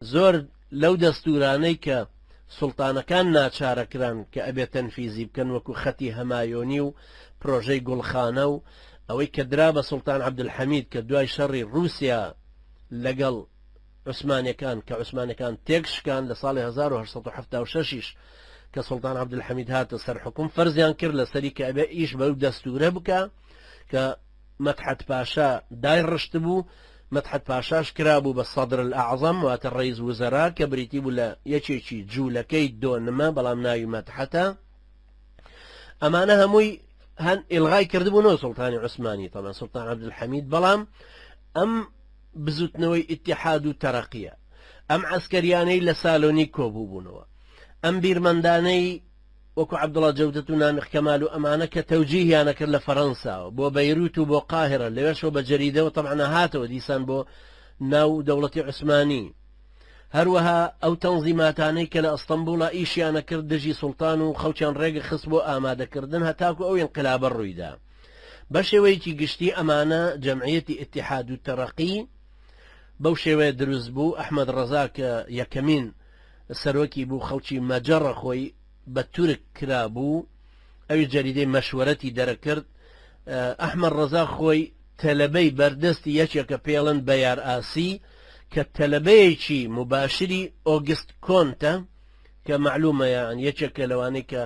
زۆر لەو دەستورانەی کە سوڵتانەکان ناچارەکران کە ئەبێ تەنفیزی بکەن وەکو خەتی هەمایۆنی و پرۆژەی گوڵخانە و ئەوەی کە درا بە سوڵتان عەبدولحەمید کە دوای شەڕی ڕوسیا لەگەڵ عوسمانەکان کە عوسمانەکان تێک شکان لە ساڵی 1976 یش کە سوڵتان عەبدولحەمید هاتە سەر حکوم فەرزیان کرد لەسەری کە ئەبێ ئیش بەو دەستورە بکە کە مەدحەت پاشا دای ڕشتبوو، مەدحەت پاشاش کرابوو بە سەدر الاعظم واتە ڕەیس وزەرا کە بریتی بوو لە یەکێکی جوولەکەی دۆنمە بەڵام ناوی مەدحەتە ئەمانە هەمووی هەن ئلغای کردبوو نۆ سلتانی عوسمانی تەمە سلتان عبدالحەمید بەڵام ئەم بزوتنەوەی ئتیحاد و تەرەقیە ئەم عسکەریانەی لە سالۆنی کۆبوو بوونەوە ئەم بیرمەندانەی وەکو عەبدوڵا جەودەت و نامیق کەمال و ئەمانە کە تەوجیهیانە کرد لە فەرەنساوە بۆ بەیروت و بۆ قاهیرە لەوێشەوە بە جەریدەوە تەبعا هاتەوە دیسان بۆ ناو دەوڵەتی عوسمانی هەروەها ئەو تەنزیماتانەی کە لە ئەستەمبوڵا ئیشیانە کرد دژی سوڵتان و خەڵکیان ڕێگە خست بۆ ئامادەکردن هەتاکو ئەو ئینقلابە ڕوویدا بە شێوەیەکی گشتی ئەمانە جەمعیەتی ئیتیحاد و تەرەقی بەو شێوەیە دروست بوو ئەحمەد ڕەزا کە یەکەمین سەرۆکی بوو خەڵکی مەجەڕە خۆی بە تورک کرابوو ئەویش جەریدەی مەشوەرەتی دەرەکرد ئەحمەد ڕەزا خۆی تەلەبەی بەردەستی یەکێکە پێڵن بەیار ئاسی کە تەلەبەیەکی مباشری ئۆگست کۆنتە کە معلومە یان یەکێکە لەوانەی کە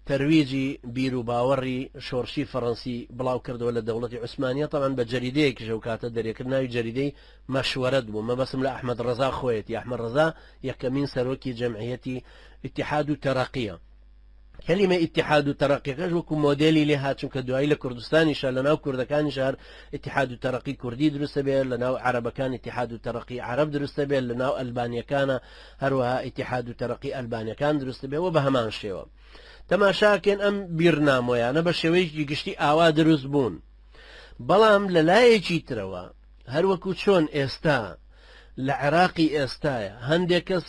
تەرویجی بیر و باوەڕی شۆڕشی فەڕەنسی بڵاو کردەوە لە دەوڵەتی عوسمانیە تاوان بە جەریدەیەکیش ئەو کاتە دەرێکرد ناوی جەریدەی مەشوەرەت بوو مەبەستم لە ئەحمەد ڕەزا خۆیەتی ئەحمەد ڕەزا یەکەمین سەرۆکی جەمعیەتی ئیتیحاد و تەرەقیە کەلیمە ئیتیحاد و تەرەقیەکەش وەکو مۆدێلی لێ هات چونکە دوایی لە کوردستانیشە لە ناو کوردەکانی شار ئیتیحاد و تەرەقی کوردی دروستە بێت لە ناو عربەکان ئیتیحاد و تەرەقی عرب دروستە بێت لە ناو ئەلبانیەکانە هەروەها ئیتیحاد و تەرەقی ئەلبانەکان دروست بێ و بە هەمان شێوە تەماشاکەن ئەم بیرنامۆیانە بە شێوەیەکی گشتی ئاوا دروست بوون بەڵام لە لایەکی ترەوە هەروەکو چۆن ئێستا لە عێراقی ئێستایا هەندێک کەس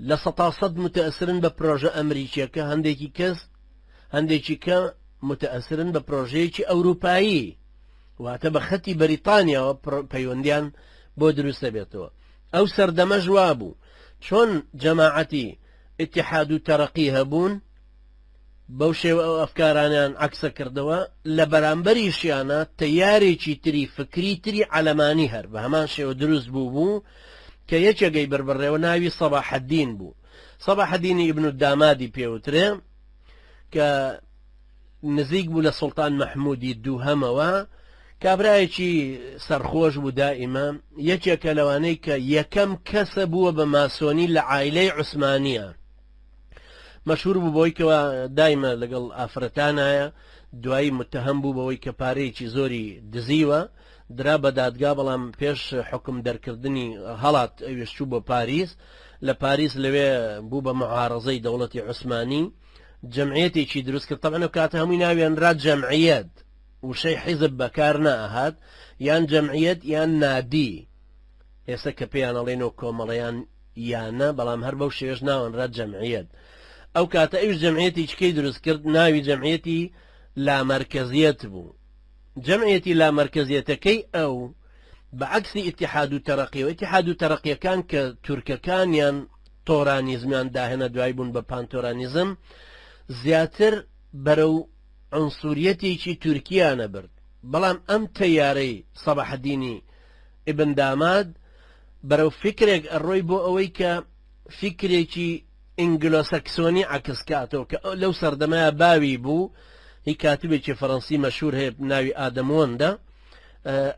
لە سەتا سەد متەئسرن بە پرۆژە ئەمریکیەکە هەندێکی کەس هەندێکی کە متەئسرن بە پرۆژەیەکی ئەوروپایی واتە بە خەتی بەریتانیاوە پەیوەندیان بۆ دروست دەبێتەوە ئەو سەردەمە ژوا بوو چۆن جەماعەتی اتحاد و تەرەقی هەبوون بەو شێوە ئەو ئەفکارانەیان عەکسە کردەوە، لە بەرامبەریشیانا تەیارێکی تری فکری تری عەلەمانی هەر بە هەمان شێوە دروست بوو بوو کە یەکێگەی بەر بڕێوە ناوی سەباحەدین بوو. سەباحەدینی ئیبن الدامادی پێ وترێ کە نزیک بوو لە سوڵتان مەحمودی دووهەمەوە، کابرایەکی سەرخۆش بوو دائیمە، یەکێکە لەوانەی کە یەکەم کەسە بووە بە ماسۆنی لە عایلەی عوسمانیە. مەشهور بوو بەوەی کەوا دایمە لەگەڵ ئافرەتانایە دوایی متهم بوو بەوەی کە پارەیەکی زۆری دزیوە درا بە دادگا بەڵام پێش حکم دەرکردنی هەڵات ئەویشتوو بۆ پاریس لە پاریس لەوێ بوو بە معارەزەی دەوڵەتی عوسمانی جمعێتێکی دروست کرد تەبەن و کاتە هەمووی ناوێنرا جەمعیت وشەی حیزب بەکار نەهات یان جەمعیت یان نادی ئێستا کە پێیانەڵێنەوە کۆمەڵیان یان نا بەڵام هەر بەو شێوەش ناوەنرا جەمعیەت ئەو کاتە ئەوش جەمعیەتی چکەی دروست کرد ناوی جەمعیەتی لامەرکەزیەت بوو جەمعیەتی لامەرکەزیەتەکەی ئەو بە عکسی ئتیحاد و تەرەقی و ئتیحاد و تەرەقیەکان کە تورکەکانیان تۆرانیزمیان داهێنە دوای بوون بە پانتۆرانیزم زیاتر بەرە و ئەنسوریەتێکی تورکیانە برد بەڵام ئەم تەیارەی سەبحدینی ئیبن داماد بەرەو فیکرێک ئەڕۆی بۆ ئەوەی کە فیکرێکی ئینگلۆسەکسۆنی عەکس کاتەوە کە لەو سەردەمەیە باوی بوو هی کاتبێکی فەڕەنسی مەشهور هەیە ناوی ئادەموەندە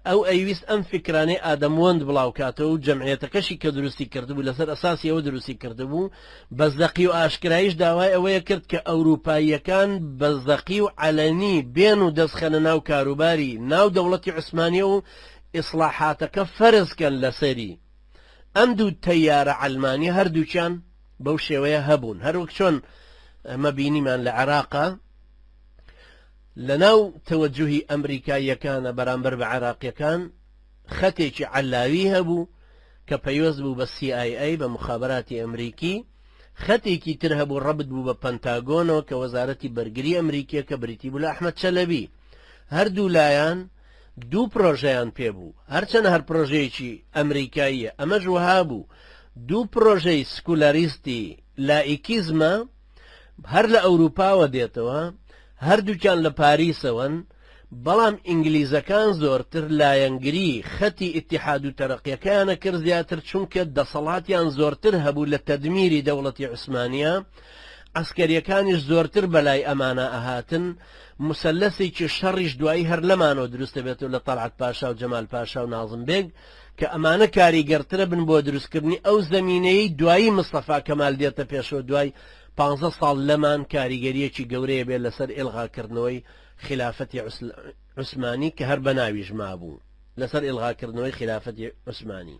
ئەو ئەیویست ئەم فکرانەی ئادەموەند بڵاوکاتەوە و جەمعەتەکەشی کە دروستی کردبوو لەسەر ئەساسی ئەوە دروستی کردبوو بەزەقی و ئاشکرایش داوای ئەوەیە کرد کە ئەوروپاییەکان بەزەقی و علەنی بێن و دەستخەنە ناو کاروباری ناو دەوڵەتی عوسمانیە و ئیسڵاحاتەکە فەرز کەن لەسەری. ئەم دوو تەیارە عەلمانیە هەردووکیان بەو شێوەیە هەبوون هەروەک چۆن ئەمە بینیمان لە عێراقا لەناو تەوەجوهی ئەمریکاییەکانە بەرامبەر بە عێراقیەکان خەتێکی عەلاوی هەبوو کە پەیوەست بوو بە CIA بە مخابراتی ئەمریکی خەتێکی تر هەبوو ڕەبت بوو بە پەنتاگۆنەوە کە وەزارەتی بەرگری ئەمریکیە کە بریتی بوو لە ئەحمەد چەلەبی هەردوو لایەن دوو پرۆژەیان پێ بوو هەرچەنە هەر پرۆژەیەکی ئەمریکاییە ئەمەش وەها بوو دوو پرۆژەی سکولاریستی لائیکیزمە هەر لە ئەوروپاوە دێتەوە هەردووکیان لە پاریسەوەن بەڵام ئینگلیزەکان زۆرتر لایەنگری خەتی ئیتحاد و تەرەقیەکەیانە کرد زیاتر چونکە دەسەڵاتیان زۆرتر هەبوو لە تەدمیری دەوڵەتی عوسمانە عسکەریەکانیش زۆرتر بەلای ئەمانە ئەهاتن موسەلەسێکی شەڕیش دوایی هەر لەمانەوە دروست دەبێتەوە لە تەڵعەت پاشا و جەمال پاشا و نازم بێگ کە ئەمانە کاریگەرترە بن بۆ دروستکردنی ئەو زەمینەیەی دوایی مستەفا کەمال دێتە پێشەوە دوای پانزە ساڵ لەمان کاریگەریەکی گەورەیە بێت لەسەر ئێلغاکردنەوەی خلافەتی عوسمانی کە هەر بەناویش مابوو لەسەر ئێلغاکردنەوەی خلافەتی عوسمانی